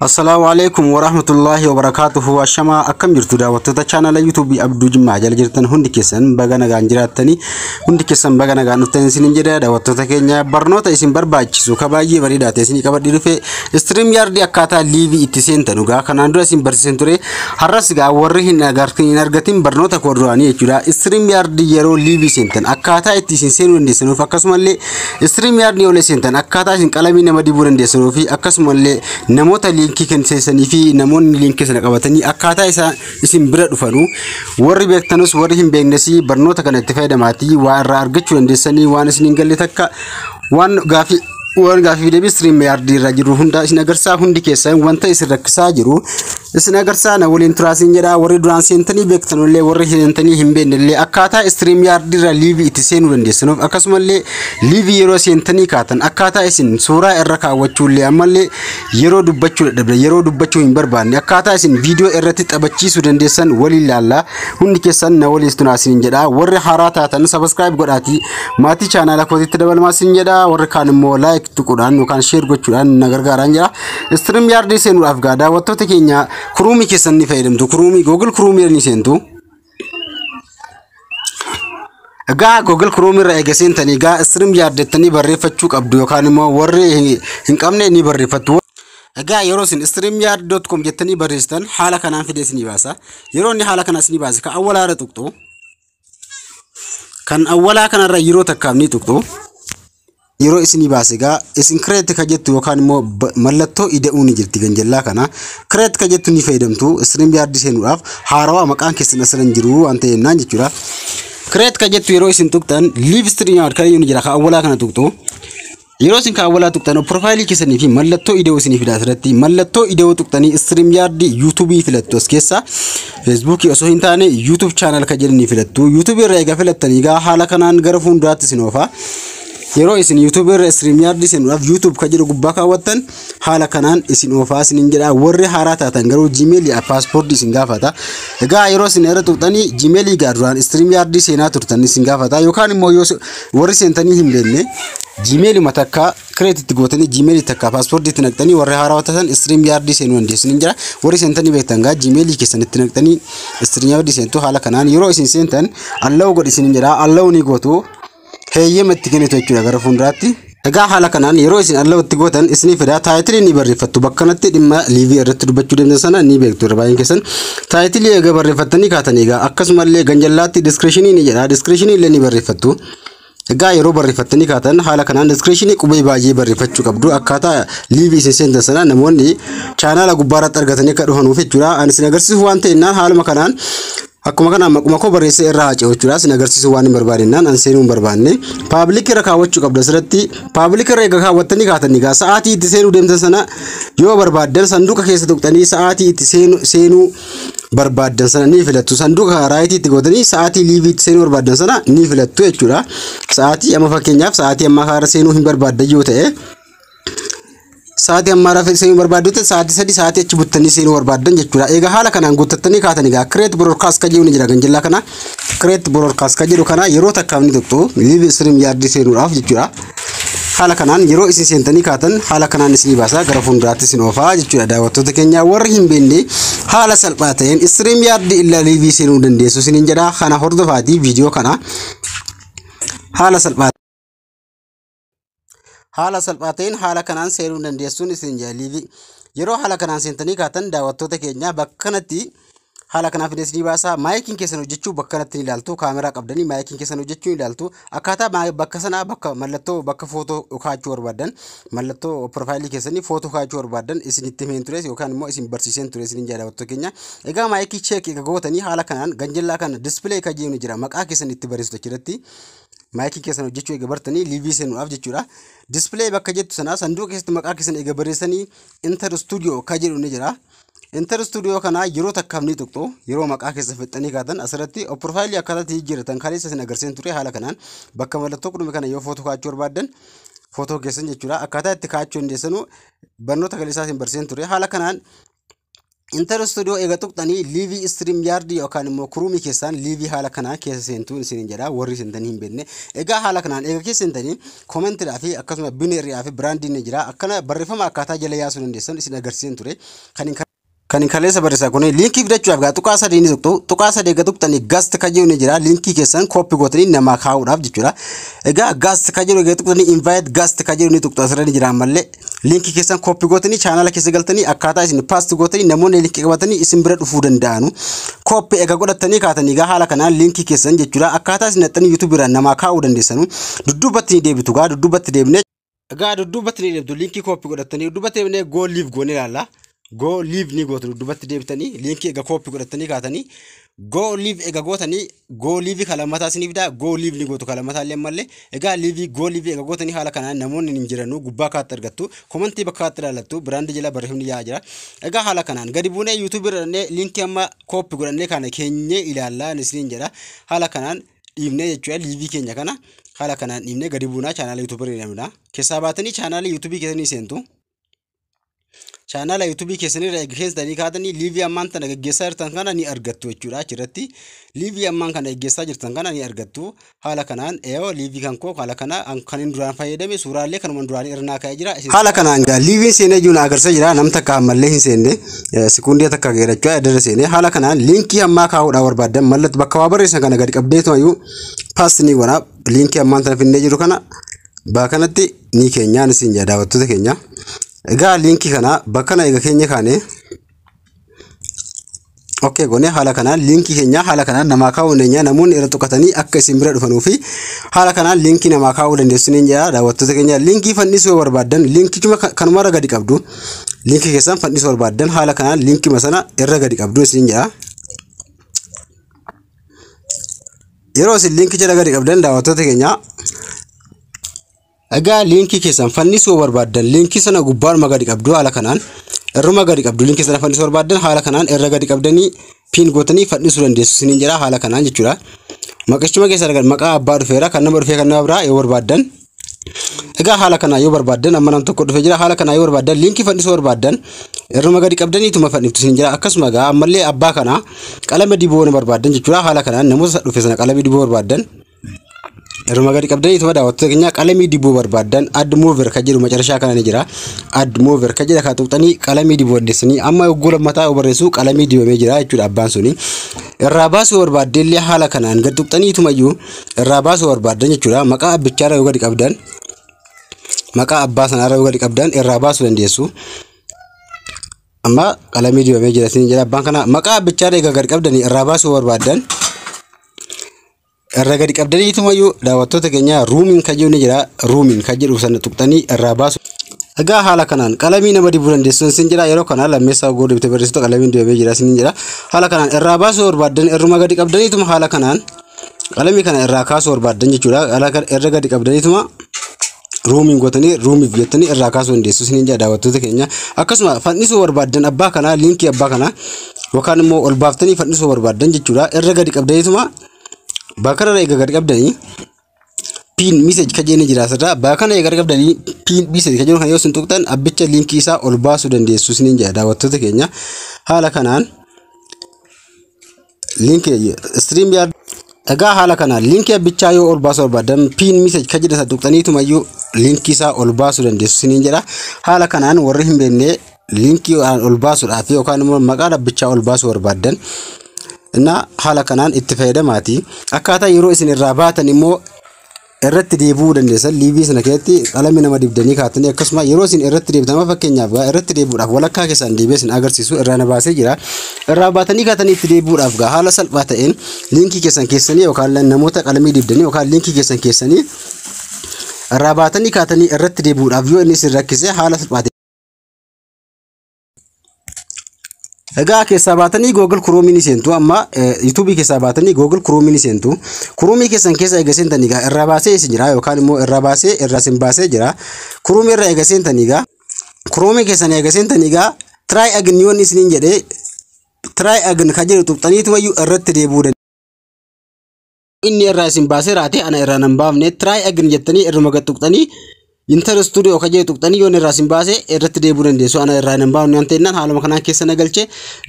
Assalaamu alaikum warahmatullaahi wabarakaatuhu ashamaa akkam jirtu daawwattoota chaanala yuutuubii Abduu Jimmaa jala jirtan hundi keessan baga nagaan jiraattanii hundi keessan baga nagaan dhuftan isinin jedha daawwattoota keenya barnoota isin barbaachisu ka baay'ee bareedaa ta'e isinii qabadhee dhufe istiriim yaardii akkaataa liivii itti seentan dhugaa kanaan dura isin barsiisan ture har'as gaa warri hin agartin hin argatin barnoota koo duraanii jechuudha istiriim yaardii yeroo liivii seentan akkaataa itti isin seenuu dandeessanuuf akkasumallee Stream Yard ni olesentan akkaataa isin qalamii nama dibuu dandeessanuu fi akkasumallee namoota liinkii kennisanii fi namoonni liinkii sana qabatanii akkaataa isaa isin bira dhufanu warri beektanus warri hin beeknes barnoota kana itti fayyadamaatii waa irraa argachuu dandeessanii waan isin hin galle takka waan gaafii waan gaafii deebii stream yard irra jiru hunda isin agarsaa hundi keessan wanta isin rakkisaa jiru Isin agarsaa na waliin turaa siin jedhaa warri duraan seentanii beektanullee warri seentanii hin beeknellee akkaataa istiriim yaardiirra liivii itti seenuu dandeessinuuf akkasumallee liivii yeroo seentanii kaatan akkaataa isin suuraa irra kaawwachuullee ammallee yeroo dubbachuu dadhabne yeroo dubbachuu hin barbaanne akkaataa isin viidiyoo irratti taphachiisuu dandeessan waliin laallaa hundi keessan na waliin turaa siin jedhaa warri haaraa taatan sabaskiraayib godhaatii maatii chaanaala kootiitti dabalamaa siin jedhaa warri kaan immoo laayik tuquudhaan yookaan sheer gochuudhaan na gargaaraan jira. Istiriim yaardii seenuudhaaf gaa daawwattoota keenya kuruumii keessan ni fayyadamtu. Kuruumii Google kuruumii ni seentu. Egaa Google Chrome irra eega seentanii egaa istiriim yaardettanii barreeffachuu qabdu yookaan immoo warri hin- hin qabne ni barreeffattu. Egaa yeroo isin streamyard.com jettanii barreessitan haala kanaan fidee isinii baasa. Yeroo inni haala kanaa isinii baase ka awwalaarra tuqxu. kan awwalaa kanarra yeroo takkaaf ni tuqxu yeroo isinii baase egaa isin kireetti ka jettu yookaan immoo ba- mallattoo ida'uu ni jirti ganjallaa kana kireetti ka jettu ni fayyadamtu istiriim yaardii seenuudhaaf haarawaa maqaan keessan asirra hin jiru waan ta'e jennaan jechuudha. Kireetti ka jettu yeroo isin tuqxan liiv istiriim yaard kan inni jira ka awwalaa kana tuqxu Yeroo isin kaawwalaa tuqxan piroofaayilii keessanii fi mallattoo ida'uu isinii fida asirratti mallattoo ida'uu tuqxanii istiriim yaardii yuutuubii filattu as keessaa feesbuukii osoo hin taane yuutuub chaanal kan jedhanii filattu yuutuubii irra egaa filattanii egaa haala kanaan gara fuulduraatti isin oofaa. Yeroo isin yuutuubii irra istiriim yaardii seenuudhaaf yuutuub kan jedhu gubbaa kaawwattan haala kanaan isin oofaa isinin jedha warri haaraa taatan garuu gmail yaa paaspoortii isin gaafata egaa yeroo isin irra tuqxanii gmail egaa duraan istiriim yaardii seenaa turtan isin gaafata yookaan immoo yoo se- warri seentanii hin beekne gmail ma takka kireetitti gootanii gmail takka paaspoortii itti naqxanii warri haaraa taatan istiriim yaardii seenuu dandeessin hin jira warri seentanii beektan gaa gmail keessan itti naqxanii istiriim yaardii seentu haala kanaan yeroo isin seentan allawu godhi isin jedha allawu ni gootu heeyyama itti kennitu jechuudha gara fuulduraatti. Egaa haala kanaan yeroo isin alloo itti gootan isinii fidaa taayitilii ni barreeffattu bakka kanatti dhimma liivii irratti dubbachuu deemtan sana ni beektu irra baay'een keessan taayitilii egaa barreeffattanii kaatan egaa akkasumallee ganjallaatti diskirishiniin ni jedha diskirishiniin illee ni barreeffattu. Egaa yeroo barreeffattanii kaatan haala kanaan diskirishiniin qubee baay'ee barreeffachuu qabdu akkaataa liivii isin seentan sana namoonni chaanaala gubbaarratti argatanii akka dhufanuuf jechuudha. Ani isin agarsiisuuf waan ta'e innaan haaluma kanaan Akkuma kanaan maquma koo barreessee irra haa ce'uchuudhaa sin agarsiisuu waan hin barbaadennaan an seenuu hin barbaanne paabilik irra kaawwachuu qabdu asirratti paabilik irra egaa kaawwattanii kaatanii egaa sa'aatii itti seenuu deemtan sana yoo barbaaddan sanduuqa keessa tuqxanii sa'aatii itti seenu- seenuu barbaaddan sana ni filattu sanduuqa raayitii itti gootanii sa'aatii liivii itti seenuu barbaaddan sana ni filattu jechuudha sa'aatii amma fakkeenyaaf sa'aatii ammaa kaarra seenuu hin barbaaddan yoo ta'e Sa'aatii ammaa rafa seenuu barbaaddu ta'e sa'aatii sadii sa'aatii achi buttanii seenuu barbaaddan jechuudha. Egaa haala kanaan guuttattanii kaatan egaa kireet broodkaast kan jedhu ni jira ganjillaa kana. Kireet broodkaast kan jedhu kana yeroo takkaaf ni tuqxu liiv istiriim yaardii seenuudhaaf jechuudha. Haala kanaan yeroo isin seentanii kaatan haala kanaan isin baasa gara fuulduraatti isin oofaa jechuudha daawwattoota keenya warri hin beekne haala salphaa ta'een istiriim yaardii illaa liivii seenuu dandeessu isiniin jedha kana hordofaatii viidiyoo kana haala salphaa haala salphaa ta'een haala kanaan seenuu dandeessuun isin jaalliifi yeroo haala kanaan seentanii kaatan daawwattoota keenya bakka kanatti haala kanaa fidee isinii baasaa maayikiin keessan hojjechuu bakka kanatti ni ilaaltu kaameraa qabdanii maayikiin keessan hojjechuu ni ilaaltu akkaataa maa- bakka sanaa bakka mallattoo bakka footoo kaachuu barbaadan mallattoo piroofaayilii keessanii footoo kaachuu barbaadan isinitti himeen tures yookaan immoo isin barsiiseen ture isinin daawwattoota keenya egaa maayikii cheek egaa gootanii haala kanaan ganjallaa kana dispilee kan jennu jira maqaa keessan itti barreessitu achirratti maayikii keessan hojjechuu eega bartanii liivii seenuudhaaf jechuudha. Dispilay bakka jettu sanaa sanduuqa keessatti maqaa keessan eega barreessanii Inter Studio ka jedhu ni jira. Inter Studio kanaa yeroo takkaaf ni tuqxu yeroo maqaa keessan fixxanii kaatan asirratti profaayilii akkaataa itti jijjiirratan kaleessa isin agarsiisan ture haala kanaan bakka mallattoo qudhume kana yoo footoo kaachuu barbaaddan footoo keessan jechuudha akkaataa itti kaachuu dandeessanu barnoota kaleessaa isin barsiisan ture haala kanaan Inter Studio eega tuqxanii liivii stream yard yookaan immoo kuruumii keessaan liivii haala kanaa keessa seentuu isin jedha warri seentanii hin beekne. Egaa haala kanaan eega keessa seentanii koomentiidhaa fi akkasuma bineeriidhaa fi biraandiin ni jira. Akkana barreeffama akkaataa jala yaasuu dandeessan isin agarsiisan ture. Kan hin kan hin kaleessa barreessaa kun liinkii fidachuudhaaf gaa tuqaa sadii ni tuqxu tuqaa sadii egaa tuqxanii gaast kan jedhu ni jira liinkii keessan kooppi gootanii namaa kaa'uudhaaf jechuudha egaa gaast kan jedhu egaa tuqxanii invaayit gaast kan jedhu ni tuqxu asirra ni jira ammallee liinkii keessan kooppi gootanii chaanala keessa galtanii akkaataa isin paasti gootanii namoonni liinkii qabatanii isin bira dhufuu danda'anu. Kooppi egaa godhattanii kaatanii egaa haala kanaan liinkii keessan jechuudha akkaataa isin dhaxxanii yuutuubii irraa namaa kaa'uu dandeessanu dudduubatti ni deebitu egaa dudduubatti deebinee egaa dudduubatti ni deebitu liinkii kooppi godhattanii dudduubatti deebinee goo liiv goonee ilaalla. Goo liiv ni gootu dudduubatti deebitanii liinkii egaa kooppi godhattanii kaatanii goo liiv egaa gootanii goo liivii kan lammataa isiniif fidaa goo liiv ni gootu kan lammataa illee malee egaa liivii goo liivii egaa gootanii haala kanaan namoonni hin jiranuu gubbaa kaatti argattu komantii bakka kaatti ilaallattu biraandii jala barreeffamni yaa'aa jira egaa haala kanaan gadi buunee yuutuubii irra dhannee liinkii amma kooppi godhannee kana keenyee ilaallaa isiniin jedha haala kanaan dhiibnee jechuudha liivii keenya kana haala kanaan dhiibnee gadi buunaa chaanaala yuutuubii irra deemna keessaa baatanii chaanaala yuutuubii keessanii seentu. chaanaala yuutuubii keessanirra erga keessanii kaatanii liivii ammaan tana gaggeessaa jirtan kana ni argattu jechuudha achirratti liivii ammaan kana gaggeessaa jirtan kana ni argattu haala kanaan yoo liivii kan koo haala kana kan hin duraan fayyadame suuraalee kanuman duraan irnaa ka'ee jira haala kanaan gaa liiviin seenee jiru na agarsiisa jira nam takka ammallee hin seenne sekuundii takka geerachuu adda seenee haala kanaan liinkii ammaa kaa'uudhaa barbaadan mallattoo bakka waa barreessan kana gadi qabdeetu ayyuu paas ni godha liinkii ammaan tana finnee jiru kana baa kanatti ni keenyaa ni siin daawwattoota keenya. Egaa liinkii kana bakka na eega keenya kaane Okkee goone haala kanaan liinkii keenya haala kanaan namaa kaa'uu dandeenya namoonni irra tuqatanii akka isin bira dhufanuu fi haala kanaan liinkii namaa kaa'uu dandeessu ni jira daawwattoota keenya liinkii fannisuu barbaaddan liinkichuma kanumarra gadi qabdu liinkii keessan fannisuu barbaaddan haala kanaan liinkii sana irra gadi qabdu isin jira. Yeroo isin liinkii jala gadi qabdan daawwattoota keenya Egaa liinkii keessan fannisuu barbaaddan liinkii sana gubbaaruma gadi qabdu haala kanaan irruma gadi qabdu liinkii sana fannisuu barbaaddan haala kanaan irra gadi qabdanii piin gootanii fannisuu dandeessu isiniin jedha haala kanaan jechuudha. Maqachuma keessa argan maqaa abbaa dhufeera kan nama dhufee kan nama biraa yoo barbaaddan Egaa haala kanaa yoo barbaaddan amma nam tokko dhufee jira haala kanaa yoo barbaaddan liinkii fannisuu barbaaddan irruma gadi qabdanii ituma fanniftu isin jira akkasuma egaa ammallee abbaa kanaa qalama diboo na barbaaddan jechuudha haala kanaan namoota dhufe sana qalama diboo barbaaddan Yeruma gadi qabdanii ituma daawwattoota keenya qalamii dibuu barbaaddan add mover kan jedhu macarashaa kana ni jira. Add mover kan jedha kana tuqxanii qalamii dibuu dandeessanii amma yogguu lammataa yoo barreessu qalamii dibamee jira jechuudha abbaan suni. Irraa baasuu barbaadde illee haala kanaan gad tuqxanii ituma iyyuu irraa baasuu barbaaddan jechuudha. Maqaa abbichaarra yoo gadi qabdan maqaa abbaa sanaarra yoo gadi qabdan irraa baasuu dandeessu. Amma qalamii dibamee jira isin jedha abbaan kana maqaa abbichaarra egaa gad qabdanii irraa baasuu barbaaddan Irra gadi qabdaniitumayyuu daawwattoota keenya ruumiin kan jedhu ni jira. Ruumiin kan jedhu sana tuqxanii irraa baasu. Egaa haala kanaan qalamii nama dibuu dandeessuun sin jira yeroo kana lammeessaa oguu dibte barreessitu qalamiin dibamee jira sin jira. Haala kanaan irraa baasuu barbaaddan irruma gadi qabdaniituma haala kanaan qalamii kana irraa kaasuu barbaaddan jechuudha. Haala kana irra gadi qabdaniituma roomiin gootanii roomiif jettanii irraa kaasuu dandeessu isiniin jedha daawwattoota keenya akkasuma fannisuu barbaaddan abbaa kanaa liinkii abbaa kanaa yookaan immoo ol baaftanii fannisuu barbaaddan jechuudha irra gadi qabdaniituma bakka irra eega gadi qabdanii piin message kan jenni jira asirraa bakka kana eega gadi qabdanii piin message kan jennu kan yoo isin tuqxan abbicha liinkii isaa ol baasuu dandeessu isiniin jedha daawwattoota keenya haala kanaan linkii stream yard egaa haala kana linkii abbichaa yoo ol baasuu barbaadan piin message kan jedhasa tuqxaniitumayyuu linkii isaa ol baasuu dandeessu siniin jedha haala kanaan warri hin beekne linkii ol baasuudhaaf yookaan immoo maqaa dhabbichaa ol baasuu barbaadan innaa haala kanaan itti fayyadamaati akkaataa yeroo isin irraa baatan immoo irratti deebi'uu dandeessan liivii sana keessatti qalame nama dibdanii kaatanii akkasuma yeroo isin irratti deebitan amma fakkeenyaaf gaa irratti deebi'uudhaaf walakkaa keessaan deebi'ee isin agarsiisu irraa na baasee jira irraa baatanii kaatanii itti deebi'uudhaaf gaa haala salphaa ta'een liinkii keessan keessanii yookaan namoota qalamii dibdanii yookaan liinkii keessan keessanii irraa baatanii kaatanii irratti deebi'uudhaaf yoo inni isin rakkise haala salphaa ta'een Egaa keessaa baatanii Google Chrome ni seentu amma YouTube keessaa baatanii Google Chrome ni seentu. Chrome keessan keessa egaa seentanii egaa irraa baasee isin jira yookaan immoo irraa baasee irraa isin baasee jira. Chrome irraa egaa seentanii egaa Chrome keessan egaa seentanii egaa try again yoon isiniin jedhee try again kan jedhu tuqxaniitu wayyu irratti deebi'uu dandeessu. inni irraa isin baasee raate ana irraa nan baafne try again jettanii irruma gad tuqxanii inter studio kan jedhu tuqxanii yoon irraa isin baase irratti deebuu dandeessu ana irraa nan baafne waan ta'innan haaluma kanaan keessa na galche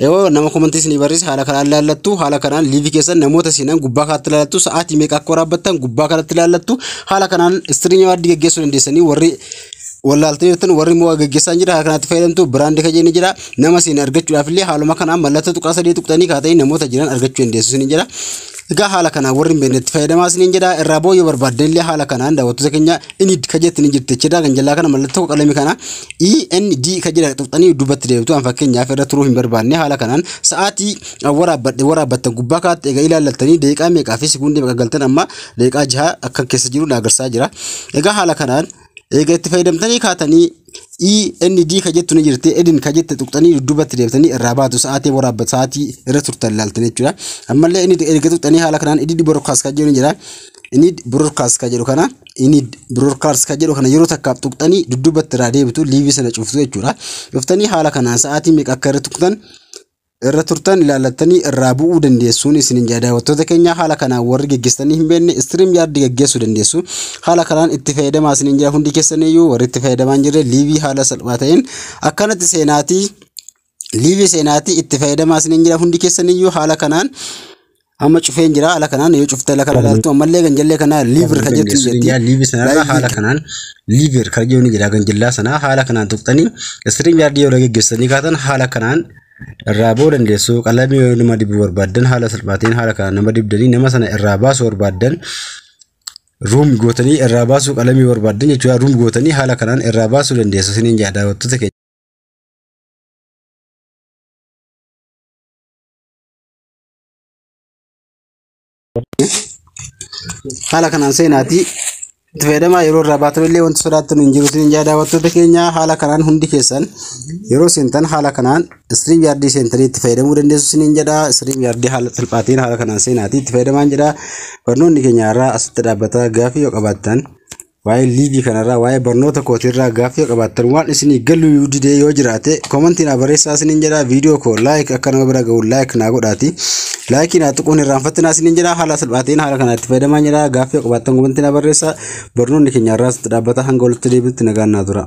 yoo nama komantii isinii barreesse haala kanaan laallattu haala kanaan liivii keessan namoota isinan gubbaa kanatti laallattu sa'aatii meeqa akka waraabbattan gubbaa kanatti laallattu haala kanaan istiriinii waaddii geggeessuu dandeessanii warri wallaaltanii jirtan warri immoo gaggeessaan jira haala kanatti fayyadamtu biraandi kan jenni jira nama isin argachuudhaaf illee haaluma kanaan mallattoo tuqaa sadii tuqxanii kaatanii namoota jiran argachuu dandeessu isin jira Egaa haala kanaan warri hin beekne itti fayyadamaa isiniin jedha irraa booda yoo barbaaddan illee haala kanaan daawwattoota keenya inni ka jettanii jirti jechuudha kan jalaa kana mallattoo qalamii kana END ka jedha xuqxanii dubbatti deemtu an fakkeenyaaf irra turuu hin barbaadne haala kanaan sa'aatii waraabbadhe waraabbattan gubbaa kaatti egaa ilaallattanii deeqaa meeqaa fi sekuundii meeqa galtan amma deeqaa jaha akka keessa jiru na agarsaa jira egaa haala kanaan Eega itti fayyadamtanii kaatanii END ka jettu ni jirti. Edin ka jette tuqxanii dudduubatti deebitanii irraa baatu sa'aatii waraabba sa'aatii irra turtan laaltan jechuudha. Ammallee inni erga tuqxanii haala kanaan edit broadcast ka jedhu ni jira. Inni broadcast ka jedhu kana inni broadcast ka jedhu kana yeroo takkaaf tuqxanii dudduubatti irraa deebitu liivii sana cuftu jechuudha. Cuftanii haala kanaan sa'aatii meeqa akka irra tuqxan irra turtan ilaallattanii irraa bu'uu dandeessuun isinin jedha daawwattoota keenya haala kanaan warri geggeessitanii hin beekne istiriim yaaddi geggeessuu dandeessu haala kanaan itti fayyadamaa isinin jedha hundi keessaniyyuu warri itti fayyadamaa hin jirre liivii haala salphaa ta'een akkanatti seenaatii liivii seenaatii itti fayyadamaa isinin jedha hundi keessaniyyuu haala kanaan Amma cufeen jira ala kanaan yoo cufte ala kana laaltu ammallee ganjallee kana liivir kan jettu hin jirti. Liivir sanarraa haala kanaan liivir kan jedhu ni jira ganjallaa sanaa haala kanaan tuqxanii istiriim yaardii yoo gaggeessanii kaatan haala kanaan irraa ba'uu dandeessu qalamii yoo nama dibuu barbaaddan haala salphaatiin haala kanaan nama dibdanii nama sana irraa baasuu barbaaddan ruum gootanii irraa baasuu qalamii barbaaddan jechuudha ruum gootanii haala kanaan irraa baasuu dandeessu isiniin jedha daawwattoota keenya. haala kanaan seenaatii itti fayyadamaa yeroo irraa baatan illee wanti sodaattan hin jiruutiin hin daawwattoota keenya haala kanaan hundi keessan yeroo seentan haala kanaan istiriim yaardii seentanii itti fayyadamuu dandeessu isiniin jedha istiriim yaardii haala salphaatiin haala kanaan seenaatii itti fayyadamaan jedha barnoonni keenya irraa asitti dhaabbata gaafii yoo qabaattan Waa'ee liivii kanarraa waa'ee barnoota kootiirraa gaaffii yoo qabaattan waan isinii galuu yoo didee yoo jiraate komantii naa barreessaa isiniin jedha viidiyoo koo laayik akka nama bira ga'u laayik naa godhaati laayikii naa tuquun irraanfattinaa isiniin jedha haala salphaatiin haala kanaa itti fayyadamaa jedha gaaffii yoo qabaattan komantii naa barreessaa barnoonni keenya irraas itti dhaabbata hanga walitti deebiitti nagaan naa tura.